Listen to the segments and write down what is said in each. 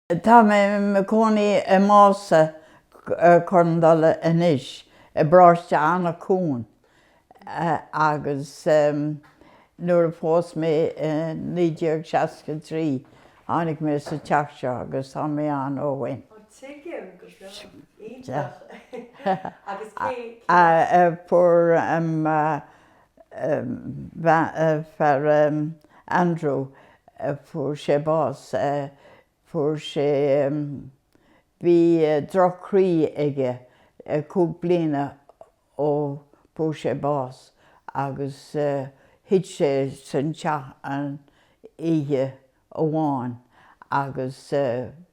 Tá mé i mo cónaí i Mása Cor an Dola anois, i bparóiste Eanach Dhúin agus nuair a phós mé i 1963 tháinig mé sa teach seo agus tá mé ann ó shoin. Tuigim go breá. Iontach. Agus cé. Fuair fear Andrew fuair sé bás fuair sé bhí drochchroí aige cúig bliana ó fuair sé bás agus thit sé san teach an oíche amháin agus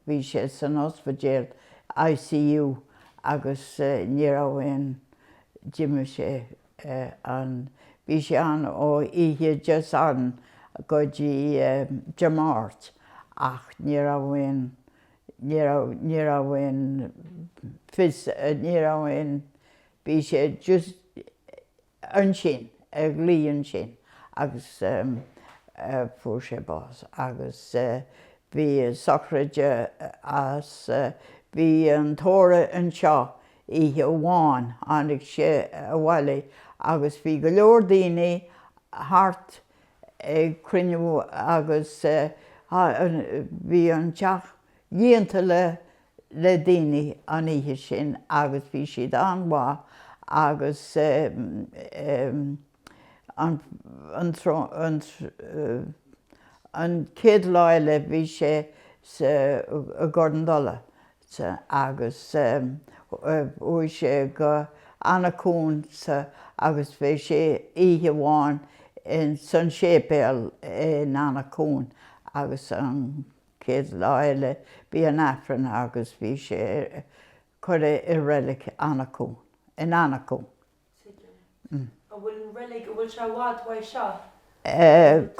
bhí sé san ospidéal, ICU, agus ní raibh aon, d'imigh sé an, bhí sé ann ó oíche Dé Sathairn go dtí Dé Máirt ach ní raibh aon, ní raibh, ní raibh aon fios, ní raibh aon, bhí sé just, ansin, ag luí ansin agus fuair sé bás agus bhí sochraid as, bhí an tórramh anseo oíche amháin, tháinig sé abhaile agus bhí go leor daoine thart ag cruinniú agus bhí an teach líonta le le daoine an oíche sin agus bhí siad an-mhaith agus an chéad lá eile bhí sé sa gCor an Dola agus chuaigh sé go Eanach Dhúin agus bhí sé oíche amháin san séipéal in Eanach Dhúin agus an chéad lá eile bhí an Aifreann agus bhí sé curtha i reilig Eanach Dhúin, in Eanach Dhúin. Tuigim. An bhfuil an reilig, an bhfuil sé i bhfad uaidh seo?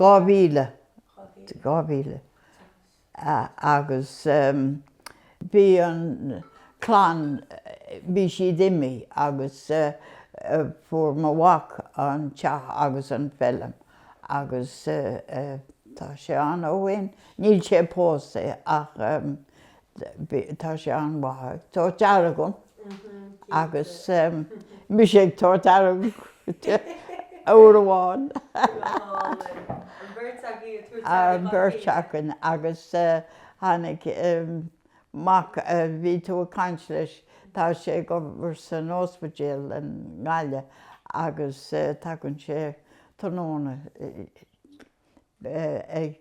Dhá mhíle. Dhá mhíle. Agus. bhí an clann, bhí siad imithe agus fuair mo mhac an teach agus an feilm agus tá sé ann ó shin. Níl sé pósta ach tá sé an-mhaith. Tá deartháir agam. agus mise ag tabhairt aire uair amháin. An bheirt againn agus tháinig an mac a bhí tú ag caint leis, tá sé ag obair san ospidéal i nGaillimh agus tagann sé tráthnóna ag.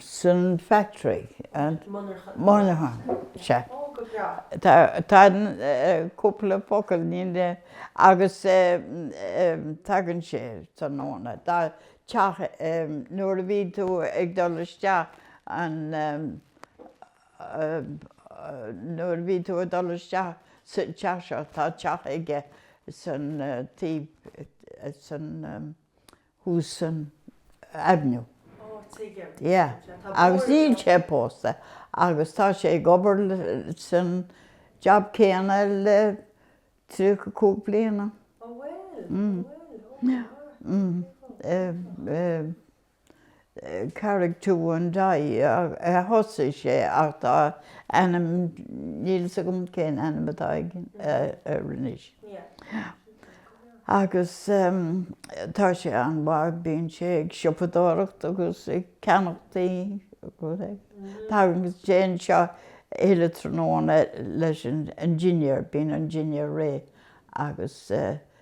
san factory Monaghan sea tá cúpla focal níl mé agus tagann sé tráthnóna tá teach nuair a bhí tú ag dul isteach an nuair a bhí tú ag dul isteach sa teach seo tá teach aige san taobh san thuas san avenue. Ó, tuigim. Tá sé bóthar air. Agus níl sé pósta agus tá sé ag obair san jab céanna le tríocha cúig bliana. Ó bhuel, ó bhuel. Ó, go maith. Go maith. Carraig Tuain Dai a thosaigh sé ach tá ainm, níl fhios agam cén ainm atá air anois. Agus tá sé an-mhaith, bíonn sé ag siopadóireacht agus ag ceannacht tí agus tagann sé anseo chuile tráthnóna leis an dinnéar, bíonn an dinnéar réidh agus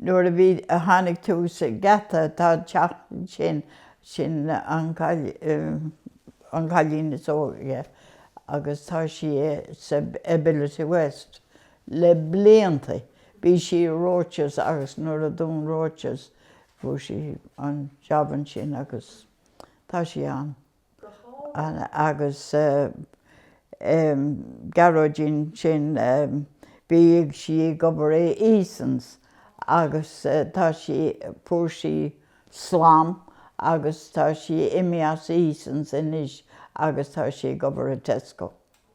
nuair a bhí, a tháinig tú sa geata, tá an teach ansin, sin an, an cailín is óige agus tá sí sa Ability West le blianta, bhí sí i Roches agus nuair a dún Roches fuair sí an jab ansin agus tá sí ann. agus Gearóidín sin bhíodh sí ag obair i Easons agus tá sí, fuair sí slám agus tá sí imithe as Easons anois agus tá sí ag obair i Tesco.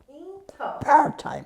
Iontach. Part-time.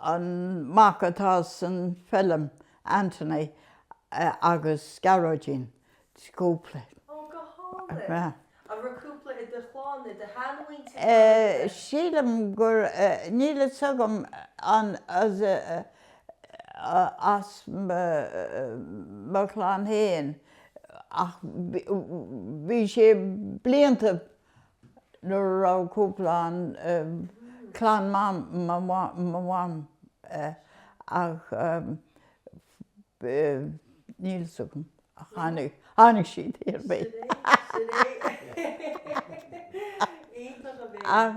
an mac atá san feilm Anthony agus Gearóidín cúpla Ó go hálainn. An raibh cúpla i do chlann, i do shean mhuintir thall i do. sílim gur níl fhios agam an as as mo chlann fhéin ach bhí sé blianta nuair a raibh cúpla ann, clann mam, mo mham, ach níl fhios agam, ach tháinig, tháinig siad ar aon bhealach. Iontach a bheith. Ach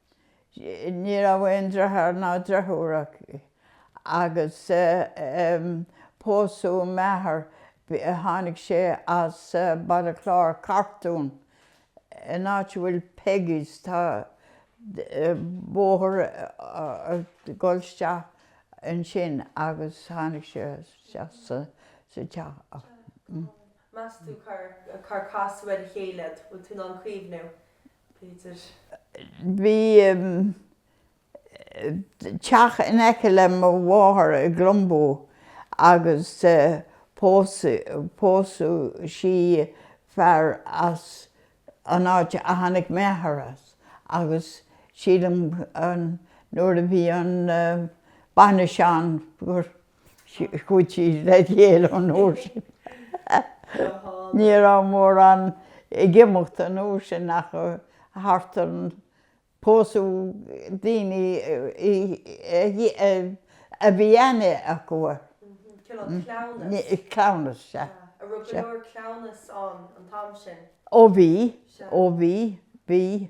Ní raibh aon driotháir ná driofúr aici agus pósadh m'athair, tháinig sé as Baile Chláir, Cartún, in áit a bhfuil Peggy's, tá bóthar ag dul isteach ansin agus tháinig sé isteach sa teach. Meas tú cár casadh iad ar a chéile, bhfuil tú in ann cuimhneamh? Peter. Bhí teach in aice le mo mháthair i gClonboo agus pósadh sí fear as an áit a tháinig m'athair as agus sílim nuair a bhí an bainis ann gur chuaigh siad le chéile an uair sin. Ní raibh mórán ag imeacht an uair sin ach thart ar an, pósadh daoine a bhí aithne acu air. Cleamhnas, sea. Sea. An raibh go leor cleamhnas ann an t-am sin? Ó bhí, ó bhí, bhí.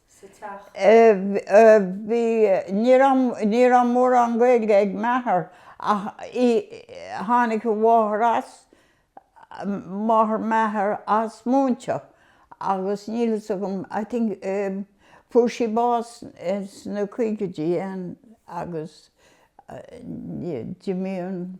Ní raibh mórán Gaeilge ag m'athair ach tháinig a mháthair as, máthair m'athar, as Múinse agus níl fhios agam, I think, fuair sí bás sna caogaidí ansin agus d'imigh an.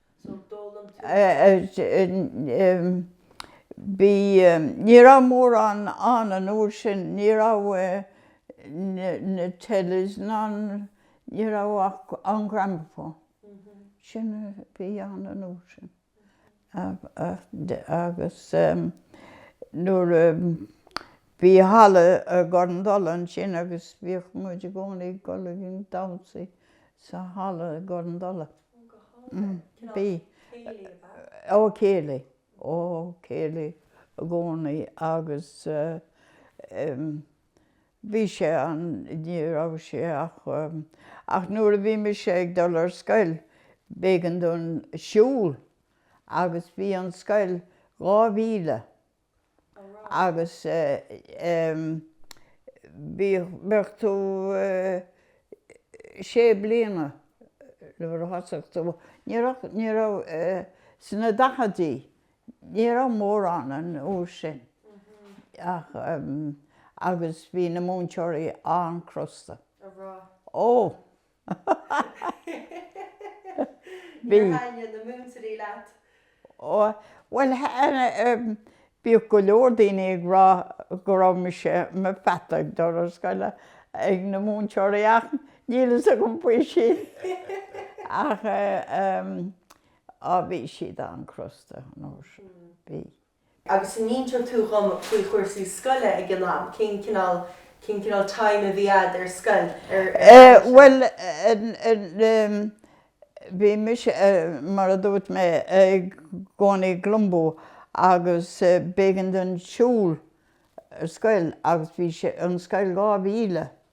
Bhí, ní raibh mórán ann an uair sin, ní raibh na telis ná, ní raibh ach an gramophone, sin a bhí ann an uair sin agus nuair a, bhí halla i gCorn Dola ansin agus bhíodh muid i gcónaí ag dul ag damhsaí sa halla i gCorn Dola. Bhí céilí, ó, céilí i gcónaí agus bhí sé an, ní raibh sé ach, ach nuair a bhí mise ag dul ar scoil b'éigean dúinn siúl agus bhí an scoil dhá mhíle agus bheadh tú sé bliana nuair a thosaigh tú, ní raibh, sna daicheadaí, ní raibh mórán an uair sin ach, agus bhí na múinteoirí an-chrosta. Ó! Níor thaitnigh na múinteoirí leat? Ó, bhuel, bhíodh go leor daoine ag rá go raibh mise i mo pheata ag dul ar scoil ag na múinteoirí ach níl a fhios agam faoi sin. Ach, á, bhí siad an-chrosta, an uair sin. Bhí. Agus an inseoidh tú dhom faoi chúrsaí scoile ag an am, cén cineál, cén cineál time a bhí a'd ar scoil, cén aimsir? Bhuel, bhí mise, mar a dúirt mé, i gcónaí i gClonboo agus b'éigean dom siúl ar scoil agus bhí sé, an scoil dhá mhíle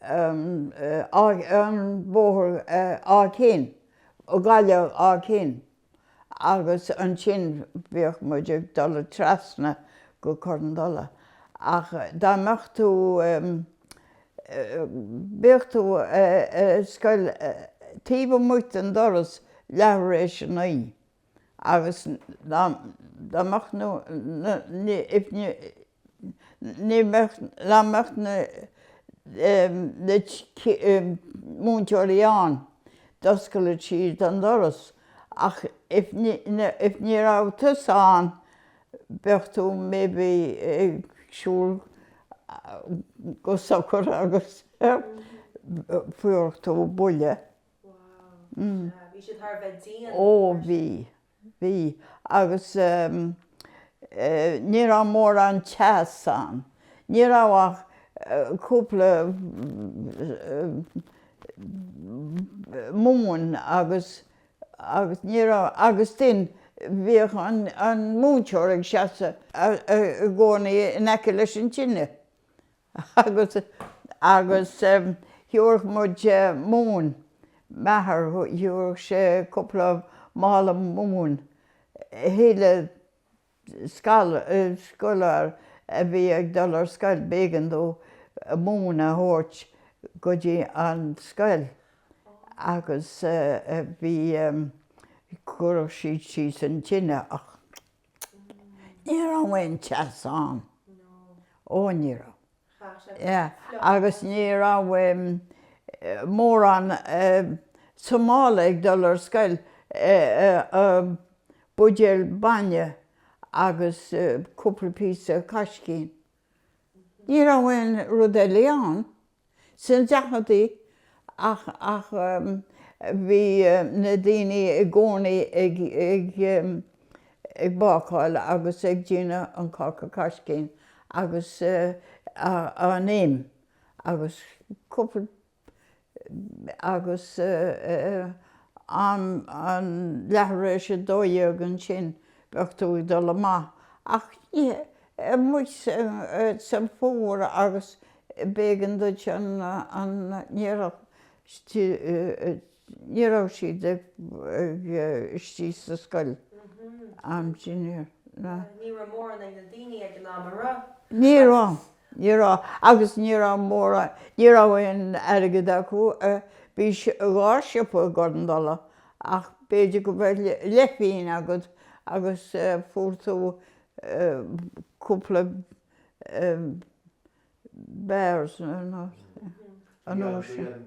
an bóthar Áth Cinn, ó Gaillimh Áth Cinn, agus ansin bhíodh muid ag dul trasna go Cor an Dola. Ach dá mbeadh tú, bíodh tú ag an scoil taobh amuigh den doras leathuair tar éis a naoi, agus dá mbeadh Ní bheadh amach na múinteoirí ann, d'oscaileadh siad an doras, ach if ní raibh tusa ann bheadh tú maybe ag siúl go socair agus fuaireadh tú buille. Bhí siad thar a bheith dian. Ó bhí. Bhí, agus ní raibh mórán teas ann. Ní raibh ach cúpla móin agus ní raibh, agus ansin, bhíodh an múinteoir ag seasamh i gcónaí in aice leis an tine. agus agus thiúrfadh muid móin, m'athair thiúrfadh sé cúpla mála móin chuile scoláire a bhí ag dul ar scoil b'éigean dó móin a thabhairt go dtí an scoil agus bhí, chuirfeadh siad síos an tine ach. Ní raibh aon teas ann. No. Ó ní raibh. Chaith sé Yeah fliuch ann. agus ní raibh em mórán em sa mála ag dul ar scoil eh em buidéal bainne agus eh cúpla píosa caiscín. Ní raibh aon rud eile ann sna daicheadaí ach bhí na daoine i gcónaí ag bácáil agus ag déanamh an cáca caiscín agus an im agus cúpla agus an leathuair tar éis a dó dhéag ansin bheadh tú ag dul amach ach amuigh sa bhfómhar agus b'éigean duit an Ní raibh siad istigh sa scoil am sin ar na. Ní raibh mórán ag na daoine ag an am a raibh. Ní raibh, ní raibh. Agus ní raibh mórán, ní raibh aon airgead acu. Bhí dhá siopa i gCorn Dola ach b'fhéidir go mbeadh leithphínn agat agus fuair tú cúpla bears nó. An uair sin.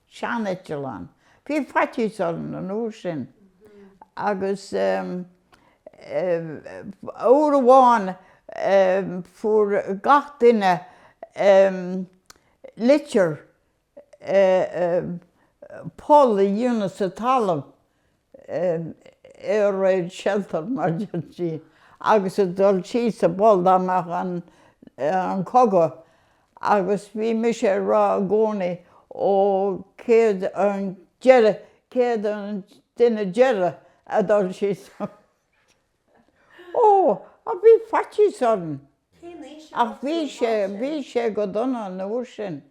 sean-eiteallán. Bhí faitíos orm an uair sin agus uair amháin fuair gach duine litir poll a dhéanamh sa talamh air raid shelter mar deirtí, agus a dhul síos sa bpoll dá mbeadh an cogadh agus bhí mise ag rá i gcónaí ó cé hé an deireadh, cé hé an duine deireadh a dhul síos ó ach bhí faitíos orm. Cén aois a Ach bhí thosaigh sé, bhí sé go dona an uair sin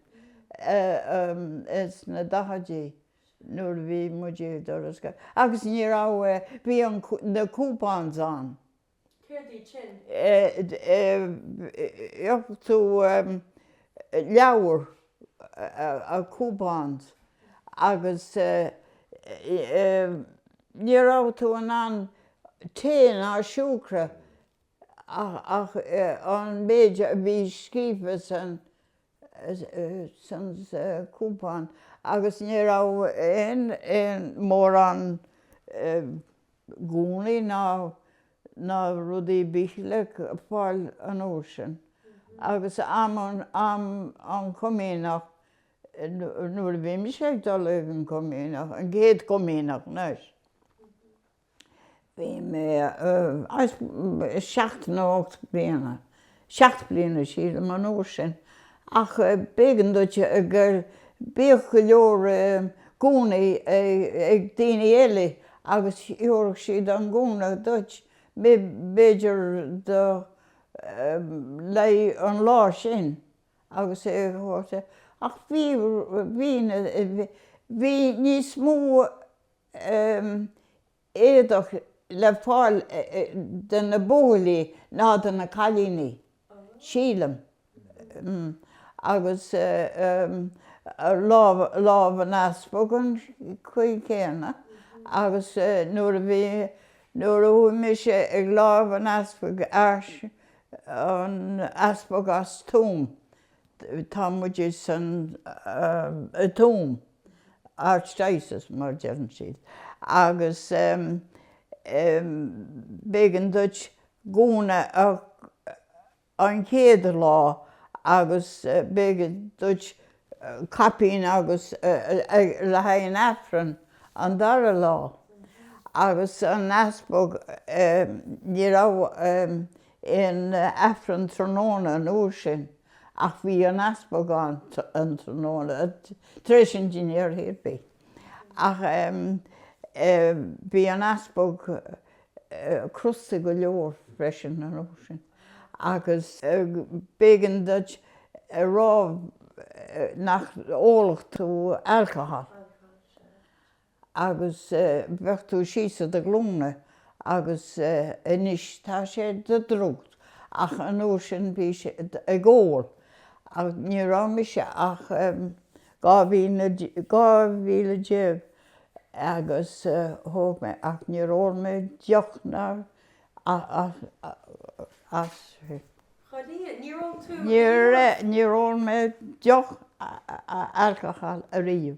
sna daichidí. nuair a bhí muid ag dul ar scoil agus ní raibh, bhí an, na coupons ann. Céard iad sin? Gheofá tú leabhar, coupons agus ní raibh tú in ann tae ná siúcra ach an méid a bhí scríofa sa gcúpan agus ní raibh aon mórán gúnaí ná rud ar bith le fáil an uair sin agus am an chomaoineach nuair a bhí mise ag dul ag an gcomaoineach, an chéad chomaoineach, anois. Bhí mise seacht nó ocht bliana, seacht bliana sílim an uair sin, ach b'éigean duit gur, bhíodh go leor gúnaí ag daoine eile agus thabharfadh siad an gúna duit, b'fhéidir le haghaidh an lá sin agus é thabhairt, ach bhí, bhí, bhí níos mó um éadach le fáil do na buachaillí ná do na cailíní, sílim, um agus um lámh, lámh an easpaig ar an gcaoi chéanna agus nuair a bhí, nuair a chuaigh mise ag lámh an easpaig, an easpag as Tuaim, Tá muide san Tuam, Archdiocese mar a deireann siad, agus b'éigean duit gúna an chéad lá agus b'éigean duit caipín agus le haghaidh an Aifreann an dara lá agus an easpag ní raibh aon Aifreann tráthnóna an uair sin ach bhí an easpag ann tráthnóna tar éis an dinnéir théipí ach em bhí an easpag crosta go leor freisin an uair sin agus b'éigean duit a rá nach ólfadh tú alcohol. agus bheadh tú síos ar do ghlúine agus anois tá sé do drugs ach an uair sin bhí sé ag ól agus ní raibh mise ach dhá bhliain déag agus thóg mé ach níor ól mé deoch ná as Chomh luath níor ól tú a dhath. Níor ól mé deoch alcohol ariamh.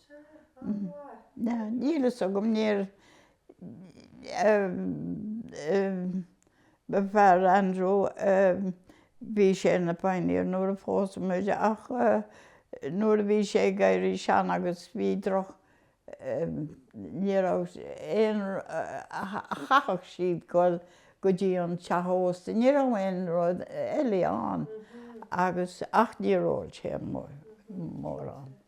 Níl a fhios agam, níor B'fhéidir Andrew a bhí sé ina Pioneer nuair a phós muide ach nuair a bhí sé ag éirí sean agus bhí droch ní raibh aon chaithfeadh siad dul go dtí an teach ósta, ní raibh aon rud eile ann agus ach níor ól sé mórán.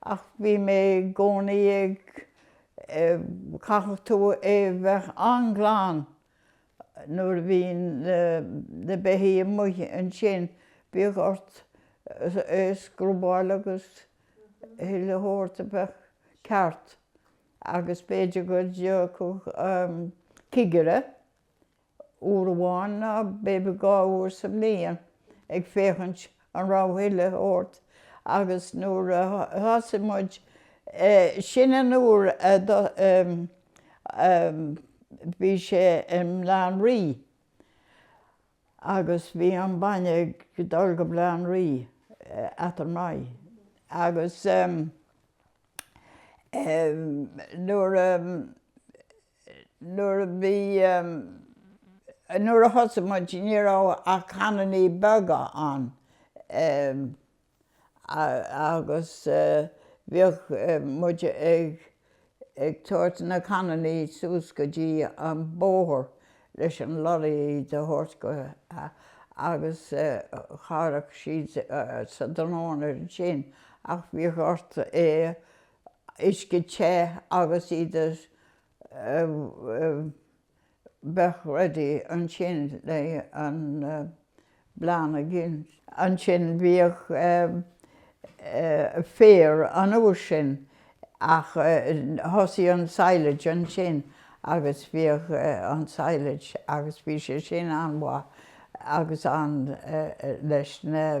Ach bhí mé i gcónaí ag, chaithfeadh tú é bheith an-ghlan nuair a bhí na beithígh amuigh ansin, bhíodh ort é scrubbáil agus chuile shórt a bheith ceart agus b'fhéidir go dtiocfadh cigire, uair amháin ná b'fhéidir dhá uair sa mbliain, ag féachaint an raibh chuile shórt all right agus nuair a thosaigh muid sin an uair a bhí sé i mBleán Rí agus bhí an bainne ag dul go Bleán Rí eatarthu maith agus nuair a Nuair a bhí, nuair a thosaigh muid ní raibh ach cannaní beaga ann agus bhíodh muid ag, ag tabhairt na cannaní suas go dtí an bóthar leis an leoraí iad a thabhairt go agus thagadh siad ar ais tráthnóna ansin ach bhíodh ort é a, uisce te agus iad a bheadh ready ansin le an bleán aríst. Ansin bhíodh féar an uair sin ach thosaigh an silage ansin agus bhíodh an silage agus bhí sé sin an-mhaith agus an leis na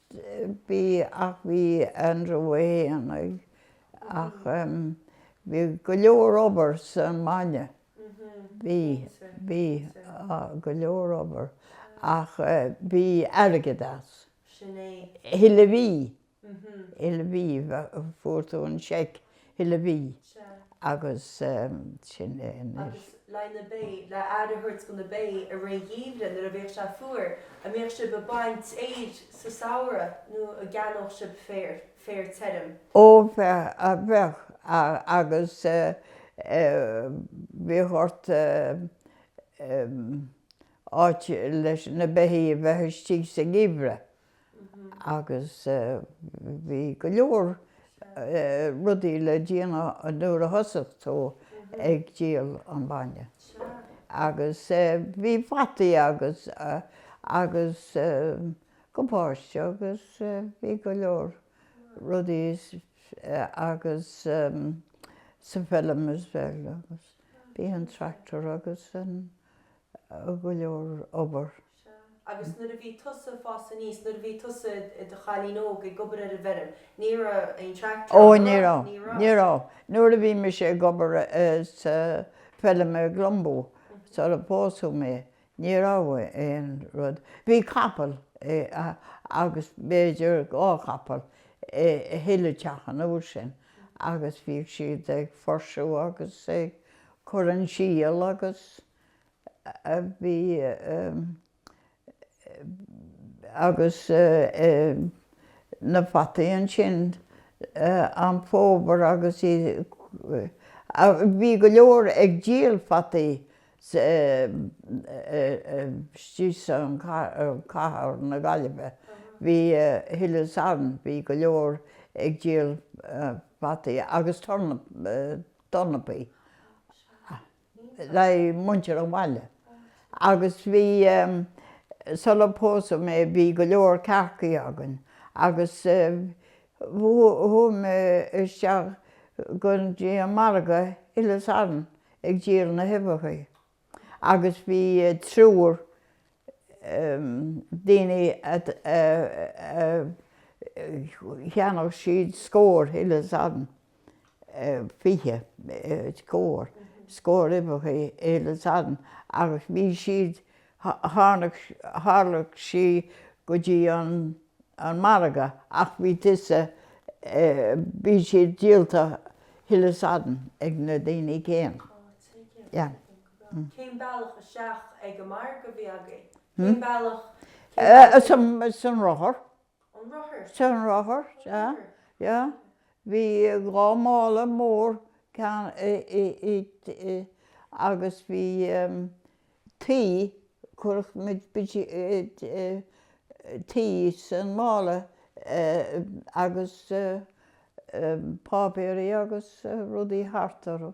bhí ach bhí an-draein ann ach bhí go leor obair sa mbainne bhí bhí go leor obair ach bhí airgead as chuile mhí chuile mhí fuair tú an seic Chuile mhí agus sin é anois. Agus leis na ba, le aire a thabhairt do na ba i rith an gheimhridh nuair a bheadh sé fuar, an mbeadh sibh ag baint féir sa samhradh nó an gceannódh sibh féar, féar tirim? Ó bheadh, bheadh agus bhíodh ort áit leis na beithígh a bheith istigh sa ngeimhreadh. agus bhí go leor rudaí le déanamh nuair a thosaigh tú ag díol an bhainne. Agus bhí fataí agus agus gabáiste agus bhí go leor rudaí agus sa bhfeilm as well agus bhí an tractor agus an go leor obair. Sea, agus nuair a bhí tusa ag fás aníos, nuair a bhí tusa i do chailín óg ag obair ar an bhfeirm, ní raibh aon tractor ann, an raibh? Ní raibh. Ní raibh. Nuair a bhí mise ag obair sa bhfeilm i gClumbo, sular pósadh mé, ní raibh aon rud. Bhí capall agus b'fhéidir dhá chapall i chuile teach an uair sin agus bhíodh siad ag fursú agus ag cur an síol agus. a bhí agus na fataí ansin am fómhair agus bhí go leor ag díol fataí istigh sa cathair na Gaillimhe bhí chuile Satharn bhí go leor ag díol fataí agus turnapaí. le muintir an bhaile agus bhí, sular pósadh mé bhí go leor cearcaí againn agus chuaigh mé isteach go dtí an margadh chuile Satharn ag díol na huibheachaí agus bhí triúr daoine cheannaíodh siad scór chuile Satharn fiche scór scór uibheachaí chuile Satharn agus bhí siad tharlódh sí go dtí an an margadh ach bhí tusa bhí siad díolta chuile Satharn ag na daoine céanna. Cén bealach isteach ag an margadh a bhí agaibh? Cén bealach, cén bealach ag. San rothar. An rothar? San rothar, yeah, yeah. Bhí dhá mála mór againn agus bhí tuí, chuirfeadh muid tuí san mála agus páipéirí agus rudaí thart orthu.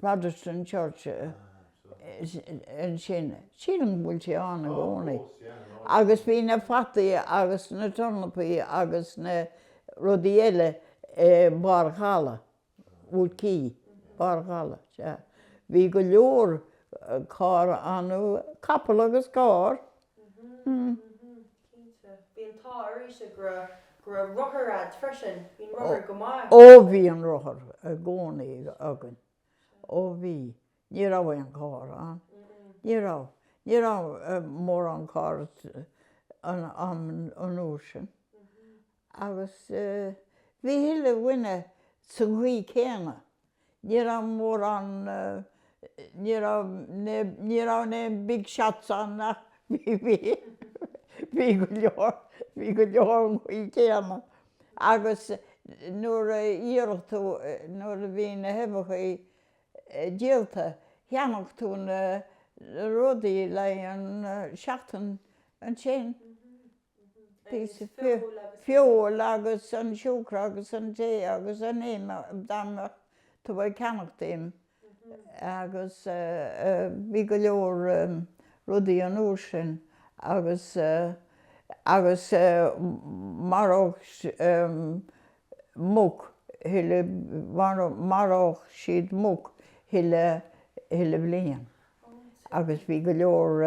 Protestant Church ansin, sílim go bhfuil sé ann i gcónaí, agus bhí na fataí agus na tornapaí agus na rudaí eile i mBarr an Chalaidh, Wood Quay, Barr an Chalaidh, sea. Bhí go leor carr ann, capall agus carr. Cinnte. Bhí an t-ádh oraibhse go raibh rothar a'd freisin. Bhí an rothar go maith. Ó bhí an rothar i gcónaí againn. Ó bhí. Ní raibh aon carr ann. Ní raibh. Ní raibh mórán carr an uair sin. Agus bhí chuile dhuine sa gcaoi céanna. Ní raibh mórán, ní raibh, ní raibh aon big shots ann ach bhí, bhí go leor, bhí go leor an chaoi céanna. Agus nuair a dhíoladh tú, nuair a bhí na huibheachaí díolta, cheannaíodh tú na rudaí le an seachtain ansin. píosa feoil agus an siúcra agus an tae agus an im dá mbeadh tú ag ceannacht im agus bhí go leor rudaí an uair sin agus agus mharódh muc chuile mharódh siad muc chuile bhliain agus bhí go leor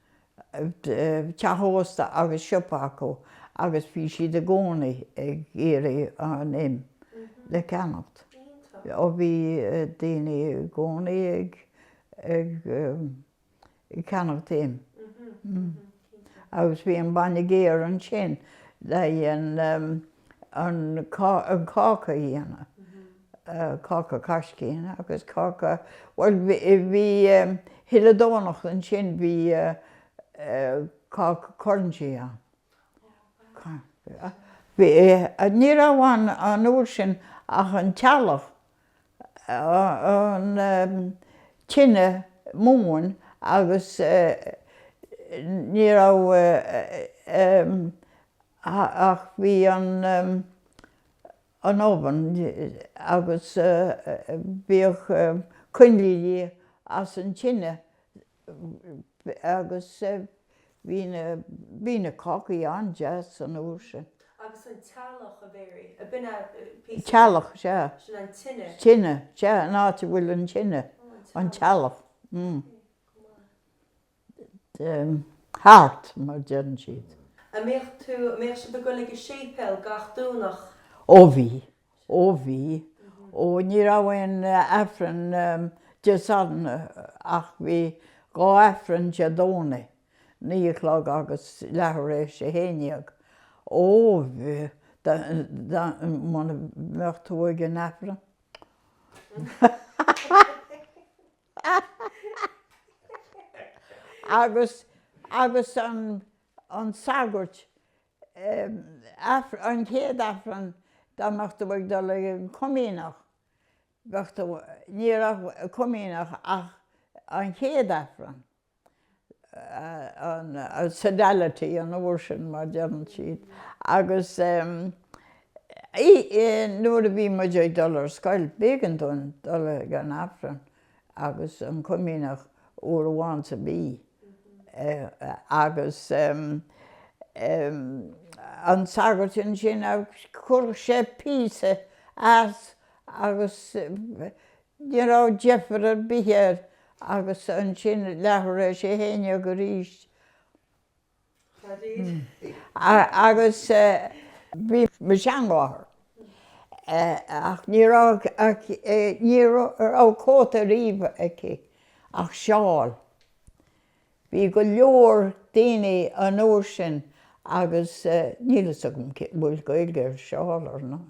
teach ósta agus siopa acu agus bhí siad i gcónaí ag iarraidh an im le ceannacht. Ó, bhí daoine i gcónaí ag ceannacht im. Agus bhí an bainne géar ansin le an cáca a dhéanamh. Cáca caiscín agus cáca, bhuel bhí chuile Domhnach ansin bhí cáca currantsaí ann. Ní raibh ann an uair sin ach an teallach, an tine móin agus ní raibh ach bhí an, an oven agus bhíodh coinlíní as an tine agus bhí na bhí na cácaí an-deas an uair sin. Agus an teallach a Mary, ab in é píosa de, teallach, sea, sin an tine, tine, sea, an áit a bhfuil an tine, an teallach, mm. hearth, mar a deireann siad. An mbeadh tú, an mbeadh sibh ag goil ag an séipéal gach Domhnach? Ó bhí, ó bhí, ó ní raibh aon Aifreann Dé Sathairn ach bhí dhá Aifreann Dé Domhnaigh, naoi a chlog agus leathuair tar éis a haon déag. Ó, bhí, muna mbeadh tú ag an Aifreann. agus agus an an sagart an chéad aifreann dá mbeadh tú ag dul ag an comaoineach bheadh tú ní raibh comaoineach ach an chéad aifreann. an sodality an uair sin mar deireann siad agus nuair a bhí muid ag dul ar scoil b'éigin dúinn dul ag an Aifreann agus an Comaoineach uair amháin sa mhí agus an sagart ansin chuirfeadh sé píosa as agus Ní raibh deifir ar bith air agus ansin leath tar éis a haon dhéag arís agus bhí mo sheanmháthair ach ní raibh ní raibh cóta ariamh aici ach seál. Bhí go leor daoine an uair sin agus níl fhios agam an bhfuil Gaeilge ar seál ar ndóigh.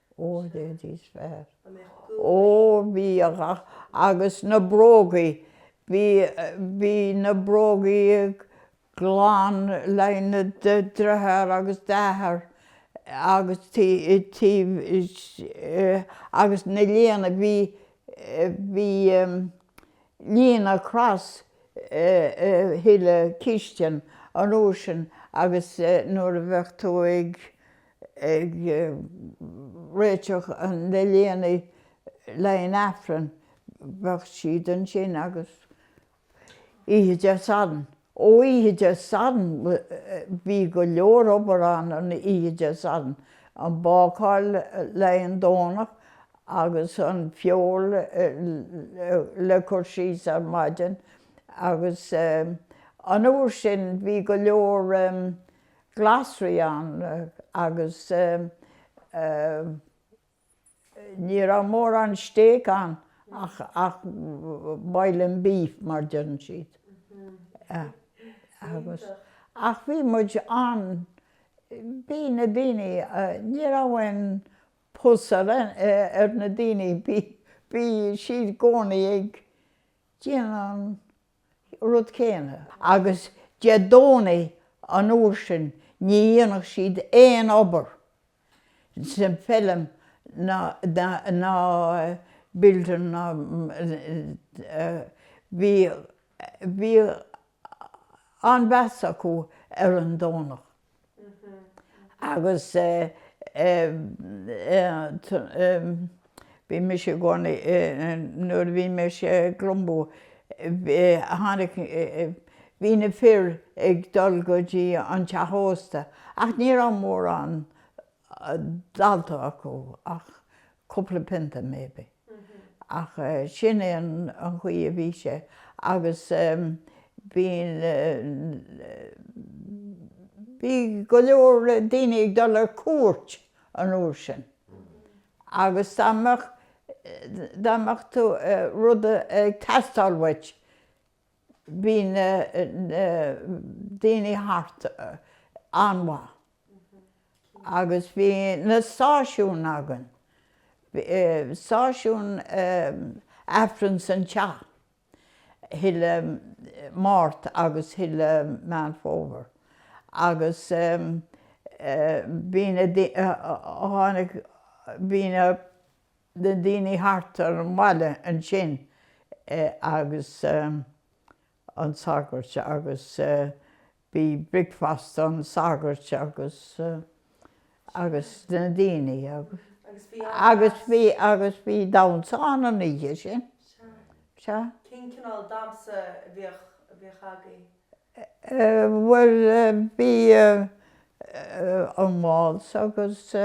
Óir é níos fearr. Ó bhí agus na brógaí, bhí, bhí na brógaí glan le haghaidh do dhritheár agus d'athair agus tí, taobh, agus na léine, bhí, bhí líne across chuile chistin an uair sin agus nuair a bheadh tú ag, ag réiteach an, na léiní le haghaidh an Aifreann bheadh siad ansin agus oíche Dé Sathairn, ó oíche Dé Sathairn bhí go leor obair ann an oíche Dé Sathairn, an bácáil le haghaidh an Domhnach agus an feoil le cur síos ar maidin agus an uair sin bhí go leor. glasraí ann agus ní raibh mórán steak ann ach ach boiling beef mar a deireann siad ach bhí muid ann bhí na daoine ní raibh aon pus ar ar na daoine bhí bhí siad i gcónaí ag déanamh an rud céanna agus Dé Domhnaigh an uair sin ní dhéanfadh siad aon obair sa bhfeilm ná ná building ná bhí bhí an-mheas acu ar an Domhnach. Agus bhí mise i gcónaí, nuair a bhí mise i gClumbo, tháinig, bhí na fir ag dul go dtí an teach ósta ach ní raibh mórán ólta acu ach cúpla pionta maybe ach sin é an chaoi a bhí sé agus bhí bhí go leor daoine ag dul ar cuairt an uair sin agus dá mbeadh dá mbeadh tú rud ag teastáil uait bhí na daoine thart an-mhaith agus bhí na stáisiúin againn, stáisiún Aifreann san teach chuile Mhárta agus chuile Meán Fómhair agus bhí na, tháinig, bhí na. na daoine thart ar an bhaile ansin agus an sagairt agus bhí bricfeasta an sagairt agus agus na daoine agus agus bhí an agus bhí agus bhí damsa ann an oíche sin sea cén cineál damsa a bhíodh a bhíodh agaibh? Bhuel bhí an waltz agus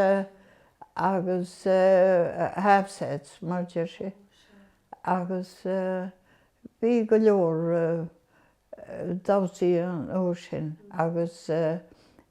agus half sets mar deir sé agus bhí go leor damhsaí an uair sin agus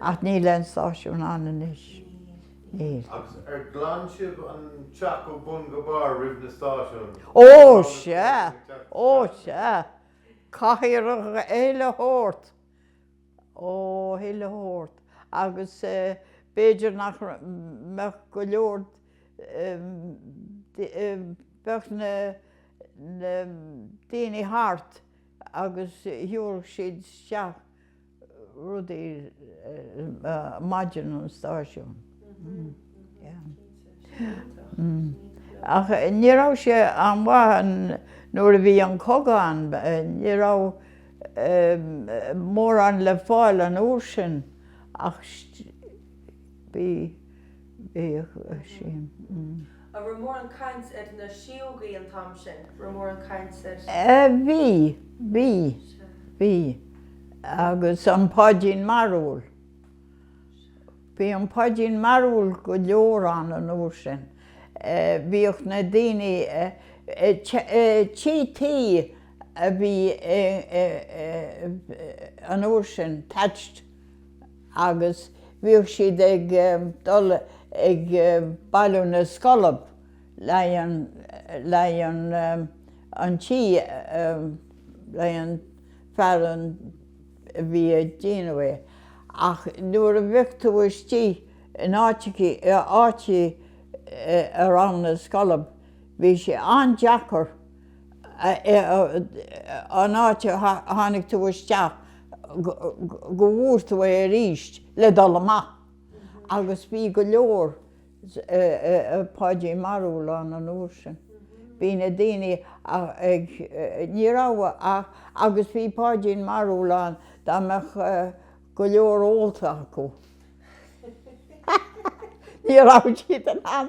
Ach níl aon stáisiún ann anois. Níl. Agus ghlan sibh an teach ó bun go barr roimh na stáisiúin? Ó sea! Ó sea! Caithfear chuile shórt! Ó, chuile shórt. Agus b'fhéidir nach mbeadh go leor, bheadh na daoine thart agus thabharfadh siad isteach. rudaí maidin an stáisiún ach ní raibh sé an-mhaith nuair a bhí an cogadh ann ní raibh mórán le fáil an uair sin ach bhí Bhíodh sin. An raibh mórán caint ar na síógaí an t-am sin, raibh mórán caint ar. Ó bhí, bhí, bhí. Agus an Páidín Mearúil. Bhí an Páidín Mearúil go leor ann an uair sin. Bhíodh na daoine, tithe tuí a bhí an uair sin, thatched. agus bhíodh siad ag dul ag bailiú na scolb le haghaidh an tí le haghaidh an fear a bhí ag déanamh é ach nuair a bheadh tú istigh in áiteachaí a raibh na scolb bhí sé an-deacair an áit a tháinig tú isteach go bhfuair tú é arís le dul amach agus bhí go leor Páidín Marúl ann an uair sin bhí na daoine ag ní raibh ach agus bhí Páidín Marúl ann dá mbeadh go leor ólta acu ní raibh siad in ann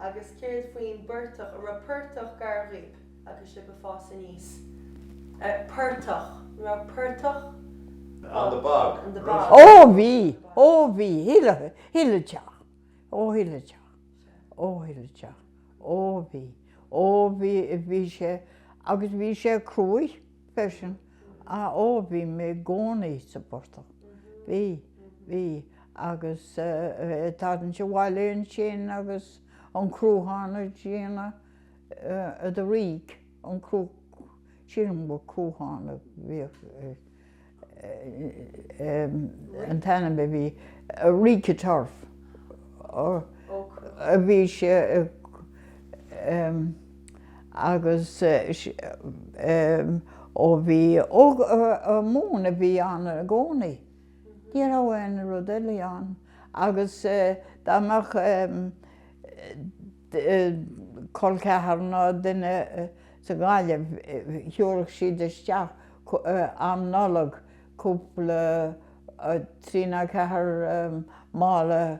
Agus céard faoin bportach? An raibh portach gar dhaoib agus sibh ag fás aníos? Portach? An raibh portach? On the bog. On the bog. Ó bhí! Ó bhí! Chuile theach. Ó chuile theach. Ó chuile theach. Ó bhí. Ó bhí. Bhí sé. Agus bhí sé cruaidh. freisin. Ó, bhí mé i gcónaí sa bportach. Bhí, bhí agus tarraingt abhaile ansin agus an Cruachán a déanamh, the rig, an Cruachán, sílim gur Cruachán a bhíodh. an t-ainm a bhí, rick of turf, bhí sé agus ó bhí móin a bhí ann i gcónaí, ní raibh aon rud eile ann agus dá mbeadh col ceathar ná duine sa Ghaillimh thabharfadh siad isteach am Nollag cúpla trí nó ceathair mála,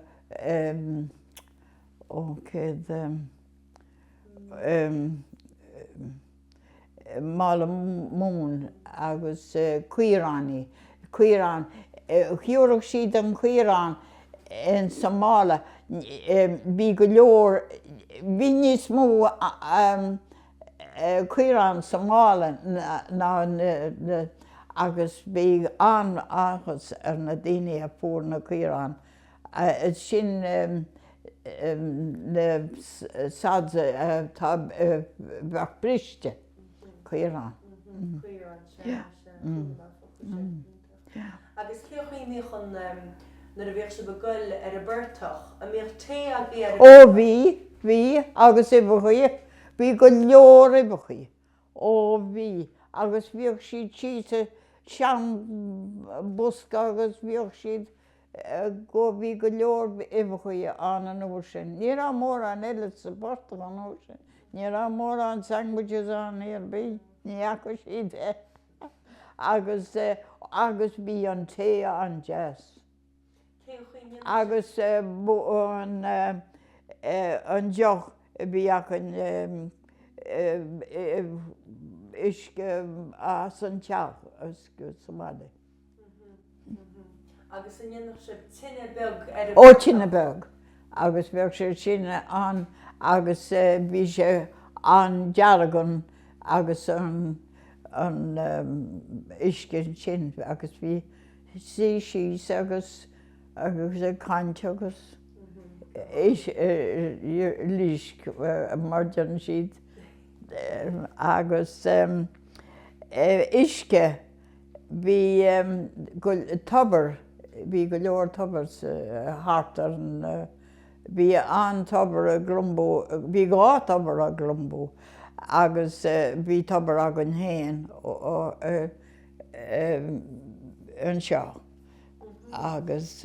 ó, céad mála móin agus caoránaí caorán thabharfadh siad an caorán insa mála bhí go leor bhí níos mó caorán sa mála ná na agus bhí an-áthas ar na daoine a fuair na caoráin. Sin na sods a bheadh briste, caorán. Agus cé a choinníodh an nuair a bhíodh sibh ag goil ar an bportach, an mbíodh tae agaibh ar an bportach? Ó bhí, bhí agus uibheachaí, bhí go leor uibheachaí, ó bhí agus bhíodh siad thíos i seanbhosca agus bhíodh siad go, bhí go leor uibheachaí ann an uair sin. Ní raibh mórán eile sa bportach an uair sin, ní raibh mórán sandwiches ann níor bhí, ní fhaca siad é. agus agus bhí an tae an-deas. Cén chaoi a mbíonn an tae? Agus an deoch a bhí againn, uisce as an teach, uisce sa mbaile. Ó, tine beag. Agus bheadh sé sin ann agus bhí sé an-dearg an, agus an, an uisce ansin agus bhí, suí síos agus, agus ag caint agus uilig, mar a deireann siad, agus uisce. Bhí go tobar, bhí go leor toibreacha thart ar an, bhí an tobar i nGlumbo, bhí dhá tobar i nGlumbo agus bhí tobar againn féin anseo agus.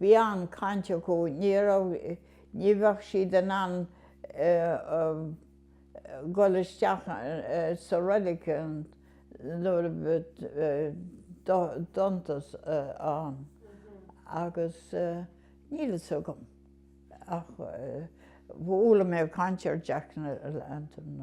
Bhí an chaint acu ní raibh, ní bheadh siad in ann dhul isteach sa reilig nuair a bheadh an dorchadas ann agus níl fhios agam ach chuala mé caint ar Jack na Lantern.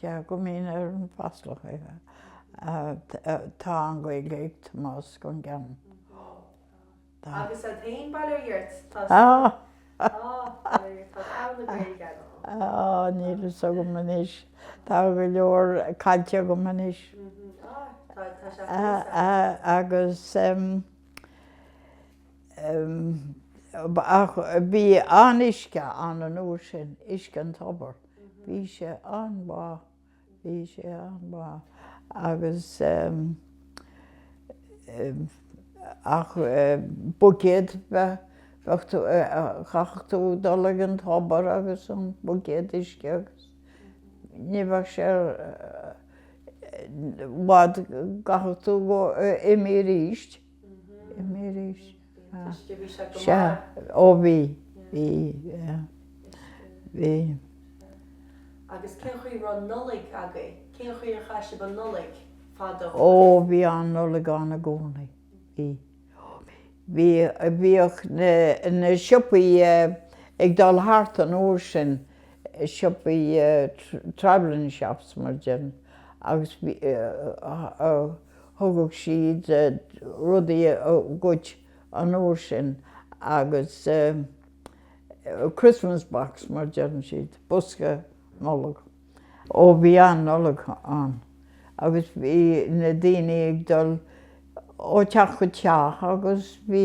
Ceaptar go mbíonn ar an bhFáslach é. Tá an Ghaeilge ag Tomás Ó Con Cheanainn. Agus an t-aon bhaile ar iarthar atá sa bhaile ar iarthar, tá togha na Gaeilge agam. Níl fhios agam anois. Tá go leor caillte agam anois. Tá sé fós ann. Agus bhí an-uisce ann an uair sin, uisce an tobair. Bhí sé an-mhaith, bhí sé an-mhaith agus ach buicéad bheith, bheadh tú, chaithfeadh tú dul ag an tobar agus an buicéad uisce agus ní bheadh sé i bhfad, chaithfeadh tú go, imeacht aríst, imeacht aríst. Sea, ó bhí, bhí, bhí. Agus cén chaoi a raibh Nollaig agaibh? Cén chaoi ar chaith sibh an Nollaig fadó? Ó, bhí an Nollaig ann i gcónaí, bhí. Bhí, bhíodh na, na siopaí ag dul thart an uair sin, siopaí travelling shops mar a deir muid, agus bhí, thugadh siad rudaí dhuit an uair sin agus Christmas box mar a deireann siad, bosca Nollag. Ó bhí an-Nollaig ann agus bhí na daoine ag dul ó teach go teach agus bhí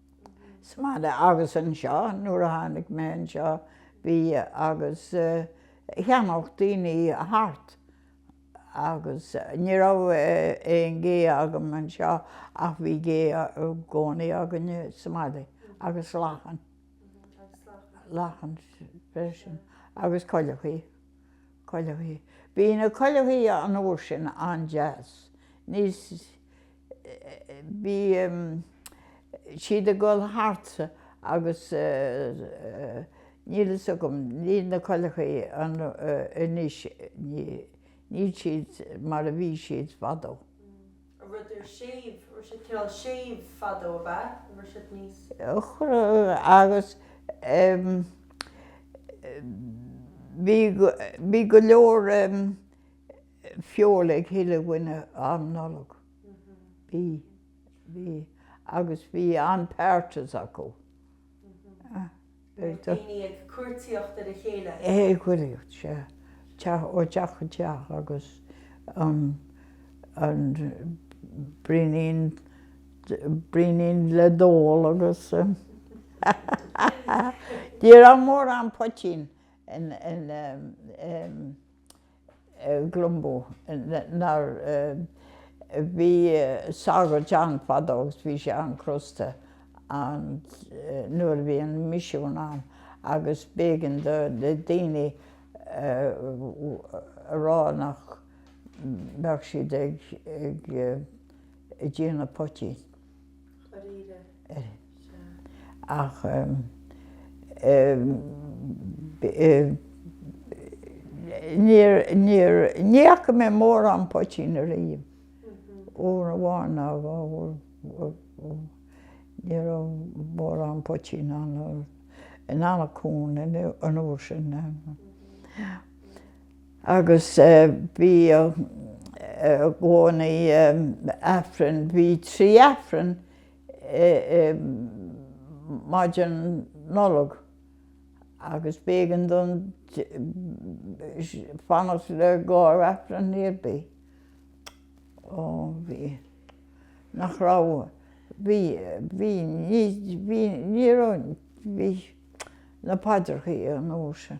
sa mbaile agus anseo nuair a tháinig mé anseo bhí agus Eanach Dhúin thart agus ní raibh aon gé agam anseo ach bhí gé i gcónaí againn sa mbaile agus lachan lachan freisin agus coileachaí coileachaí bhí na coileachaí an uair sin an-deas níos bhí siad ag dul thart agus níl fhios agam, níl na coileachaí anois, níl siad mar a bhí siad fadó. rud séimh, raibh siad cineál séimh fadó ab ea? raibh siad níos. agus bhí go leor. feoil ag chuile dhuine am Nollag. Bhí, bhí, agus bhí an-parties acu. Bhí daoine ag cuartaíocht ar a chéile. Ag cuartaíocht, sea. Teach, ó teach go teach agus an, an braoinín, braoinín le n-ól agus ní raibh mórán poitín in, in, in, Glumbo ná bhí sagart ann fadó agus bhí sé an-chrosta nuair a bhí an misiún ann agus b'éigean do daoine a rá nach mbeadh siad ag déanamh poitín. Ach ní fhaca mé mórán poitín ariamh. Uair amháin nó dhó ní raibh mórán poitín ann in Eanach Cuain an uair sin. Agus bíodh i gcónaí Aifreann, bhí trí Aifreann i maidin Nollag agus b'éigean dom fanacht le gach Aifreann ar bith. Ó bhí, nach raibh, bhí, bhí, ní raibh, bhí, bhí na paidreacha an uair sin.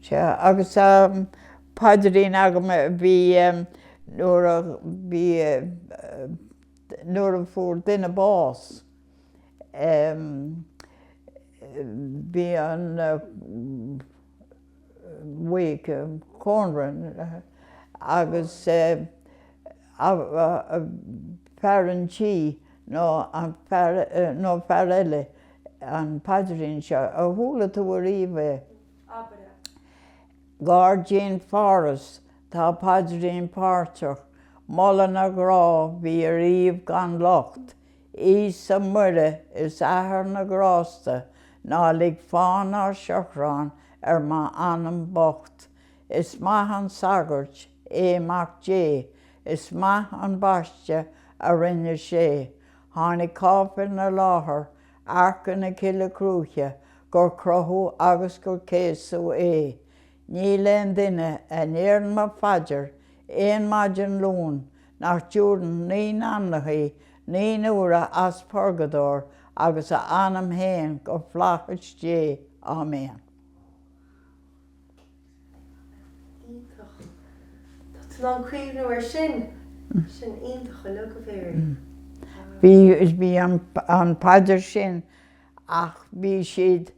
Sea, agus paidrín agam a bhí nuair a bhí nuair a fuair duine bás bhí an wake, cónra agus fear an tí nó fear nó fear eile an paidrín seo. Ar chuala tú ariamh é? Abair é. Gairdín Pharthais tá paidrín páirteach, moladh na mná bhí ariamh gan locht, Íosa, Muire is Athair na grásta, ná lig fán ná seachrán ar m'anam bocht. Is maith an sagart é Mac Dé, is maith an baisteadh a rinne sé. Tháinig cáipéil na láthair, Arc ina Cille Cruaiche, gur crochadh agus gur céasadh é. Níl aon duine a ndéarann mo phaidir aon maidin Luain nach dtiúrann naoi n-anamnachaí naoi n-uaire as purgadóir agus a anam fhéin go Flaithis Dé. Áiméan. Iontach. Tá tú in ann cuimhniú air sin. Sin iontach uilig go léir. Bhí, bhí an, an phaidir sin ach bhí siad,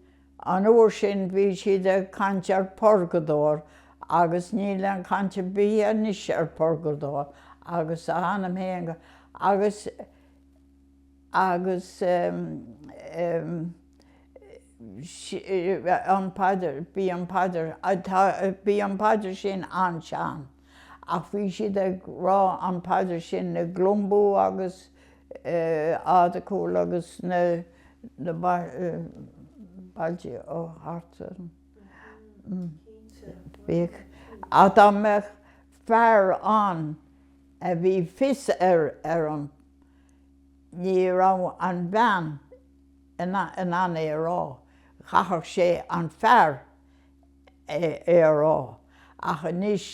an uair sin bhí siad ag caint ar phurgadóir agus níl aon chaint ar bith anois ar phurgadóir agus a anam féin go, agus, agus, an paidir, bhí an paidir, tá, bhí an paidir sin an-sean ach bhí siad ag rá an paidir sin i gCluain Bú agus Eadargúil agus na bailte thart ann. Bhíodh, ach dá mbeadh fear ann a bhí fios air ar an, ní raibh an bhean ina in ann é a rá, chaithfeadh sé an fear é a rá, ach anois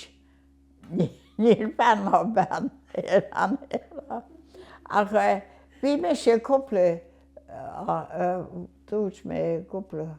níl fear ná bean in ann é a rá. Ach bhí mise cúpla, dúirt mé cúpla.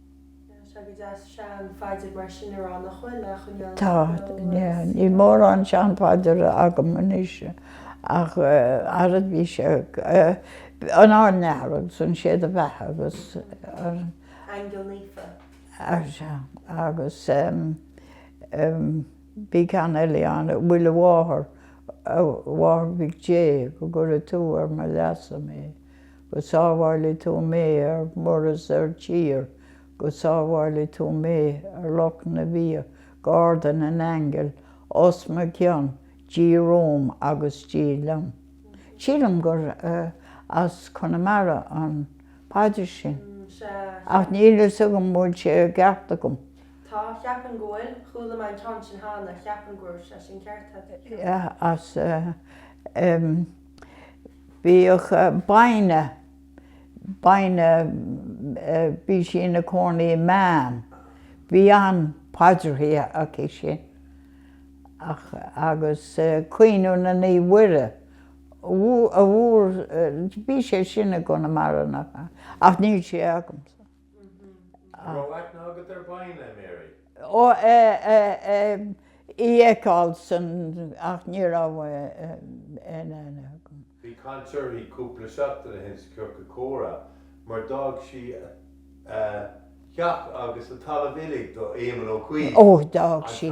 Tá go deas sean phaidir mar sin ar an a chuile choinneáil. Tá, níl mórán sean phaidir agam anois ach ara bhí sé an Ár nAthair agus an Sé do bheatha agus an. Aingeal Naofa. Ar sea, agus bhí ceann eile ann a Mhuire Mháthair, a mháthair Mhic Dé, go gcuire tú ar mo leasa mé. Go sábhála tú mé ar muir is ar tír Go sábhála tú mé ar loch na bpian Garda na n-aingeal os mo cionn Dia romham agus Dia liom. Sílim gur as Conamara an paidir sin ach níl fhios agam bhfuil sé i gceart agam. Tá, cheapfainn go bhfuil. Chuala mé an ceann sin cheana, cheapfainn go raibh sé sin ceart agat. Tá, as. Bhíodh Baine, Baine, bhí sí ina cónaí i mBeann, bhí an-paidirthí aici sin ach, agus Caoineadh na Naomh Mhuire a bhfuair, bhí sé sin i gConamara nach ea? ach níl sé agamsa. Go raibh aithne agat ar Bhaine, a Mary. Ó, ehm, í a fheiceáil san, ach ní raibh aon aithne agam. Bhí caint uirthi cúpla seachtain ó shin sa Ciorcal Comhrá mar d'fhág sí a teach agus a talamh uilig do Éamonn Ó Cuív, ó d'fhág sí.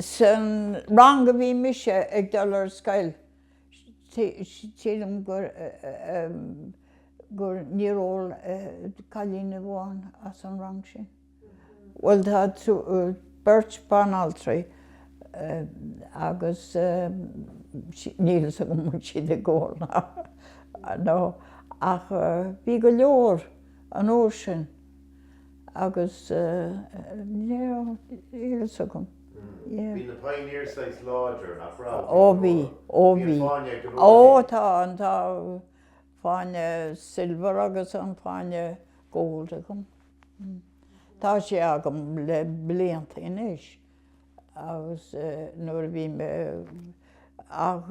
San rang a bhí mise ag dul ar scoil, sílim gur gur níor ól cailín amháin as an rang sin, bhuel tá beirt banaltraí agus níl fhios agam an bhfuil siad ag ól nó ach bhí go leor an uair sin. agus níl a fhios agam. Bhí na Pioneers saghas láidir, nach raibh? Ó bhí, ó bhí. Bhí an fáinne ag an Pioneer. Ó tá, tá fáinne silver agus an fáinne gold agam. Tá sé agam le blianta anois agus nuair a bhí mé, ach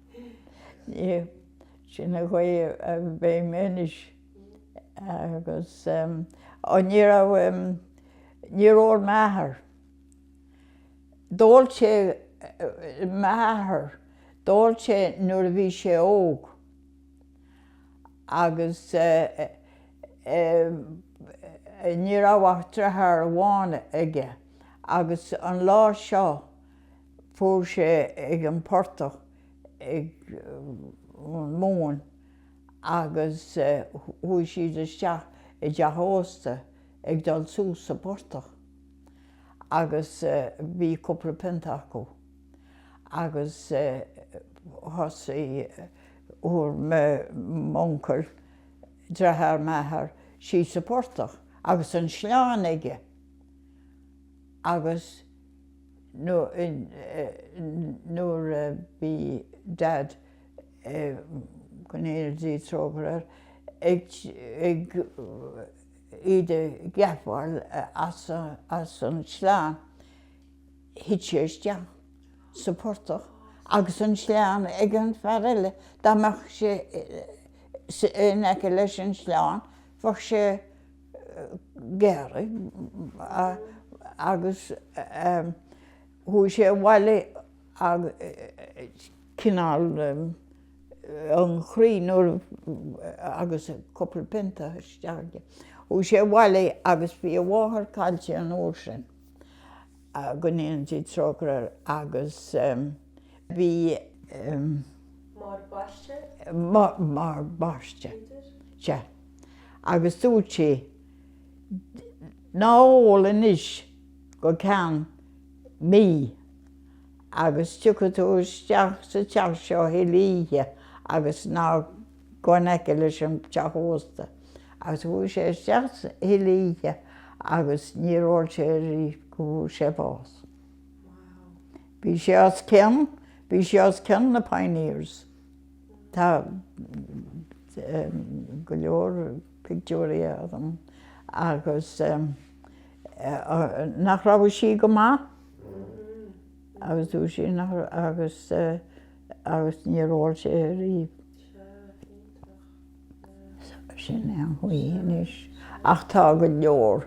Sin an chaoi a bheidh mé anois agus níor ól m'athair, d'ól sé, m'athair, d'ól sé nuair a bhí sé óg agus ní raibh ach driotháir amháin aige agus an lá seo, Chuaigh sé ag an portach ag an móin agus chuaigh siad isteach i dteach ósta ag dul suas sa portach agus bhí cúpla pionta acu agus thosaigh, chuaigh m'uncail, dreatháir m'athar, síos sa portach agus an sleán aige agus. nuair a bhí Dad go ndéana Dia trócaire air ag iad a gceapáil as an sleán thit sé isteach sa phortach agus an sleán ag an fear eile. Dá mbeadh sé in aice leis an sleán bheadh sé. gearrtha agus chuaigh sé abhaile agus cineál an chroí nuair agus cúpla pionta isteach aige. Chuaigh sé abhaile agus bhí a mháthair caillte an uair sin go ndéana Dia trócaire air agus bhí máthair baiste máthair baiste. Sea. agus dúirt sí, Ná ól anois go ceann mí agus tiocfaidh tú isteach sa teach seo chuile oíche agus ná gabh in aice leis an teach ósta. Agus chuaigh sé isteach chuile oíche agus níor ól sé arís go bhfuair sé bás. Bhí sé os cionn, bhí sé os cionn na Pioneers. Tá go leor pictiúirí agam agus nach raibh sí go maith agus dúirt sí agus agus níor ól sé ariamh. Sin é an chaoi anois ach tá go leor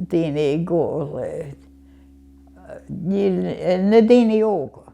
daoine ag ól é. Níl, na daoine óga.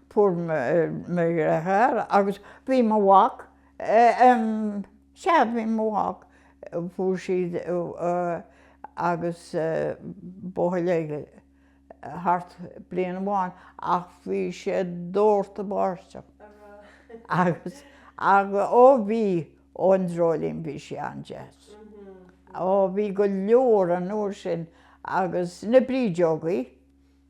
Fuair mé mo dheartháir agus bhí mo mhac, em, sea, bhí mo mhac, chuaigh siad agus buachaill eile thart bliain amháin ach bhí sé dórtadh báisteach agus, ach, ó, bhí, ó an dreoilín, bhí sí an-deas. Ó, bhí go leor an uair sin agus na brídeogaí,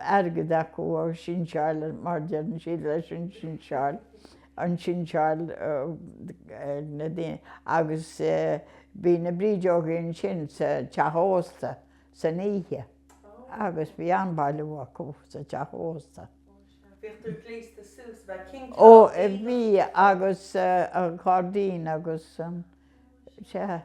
airgead acu an sinseáil, mar deireann siad leis an sinseáil, an sinseáil ar na daoine agus bhí na brídeogaí ansin sa teach ósta san oíche agus bhí an-bailiú acu sa teach ósta. Bhíodh tú gléasta suas, bheadh cinnte. Ó, bhí agus an cairdín agus an, sea.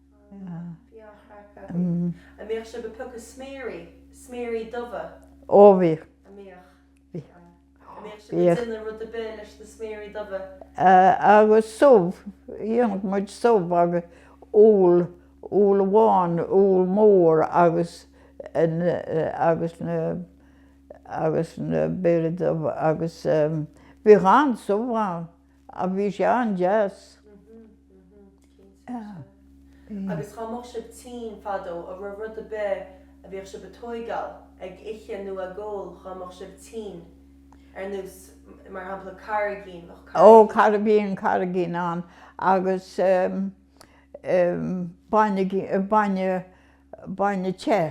Ó bhí. Agus subh, dhéanadh muid subh agus úll, úll amháin, úll mór agus agus na, agus na, béire dubha agus bhíodh an-subh ann. Ach bhí sé an-deas. Agus dhá mbeadh sibh tinn fadó a raibh rud a' bith a bhíodh sibh a' tóigeáil ag ithe nó ag ól dhá mbeadh sibh tinn ar nós mar shampla carraigín bheadh carraigín. Ó carraigín carraigín ann agus bainne bainne te.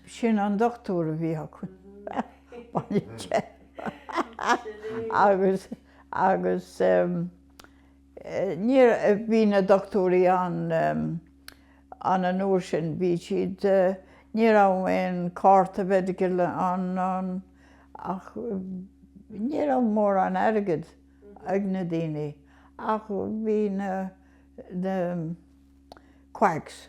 Sin an dochtúr a bhí acu. Agus níor, bhí na dochtúirí ann an an uair sin, bhí siad, ní raibh aon cárta medical ann ná ach ní raibh mórán airgead ag na daoine ach bhí na quacks.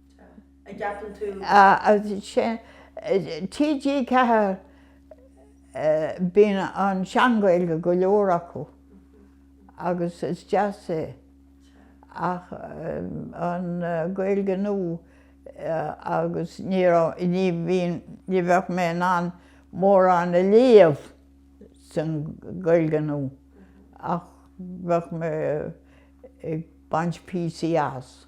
a gceapann tú? TG4 bíonn an sean-Ghaeilge go leor acu agus is deas é ach an Ghaeilge nua agus ní raibh, ní bhíonn, ní bheadh mé in ann mórán a léamh san Ghaeilge nua ach bheadh mé ag baint píosaí as.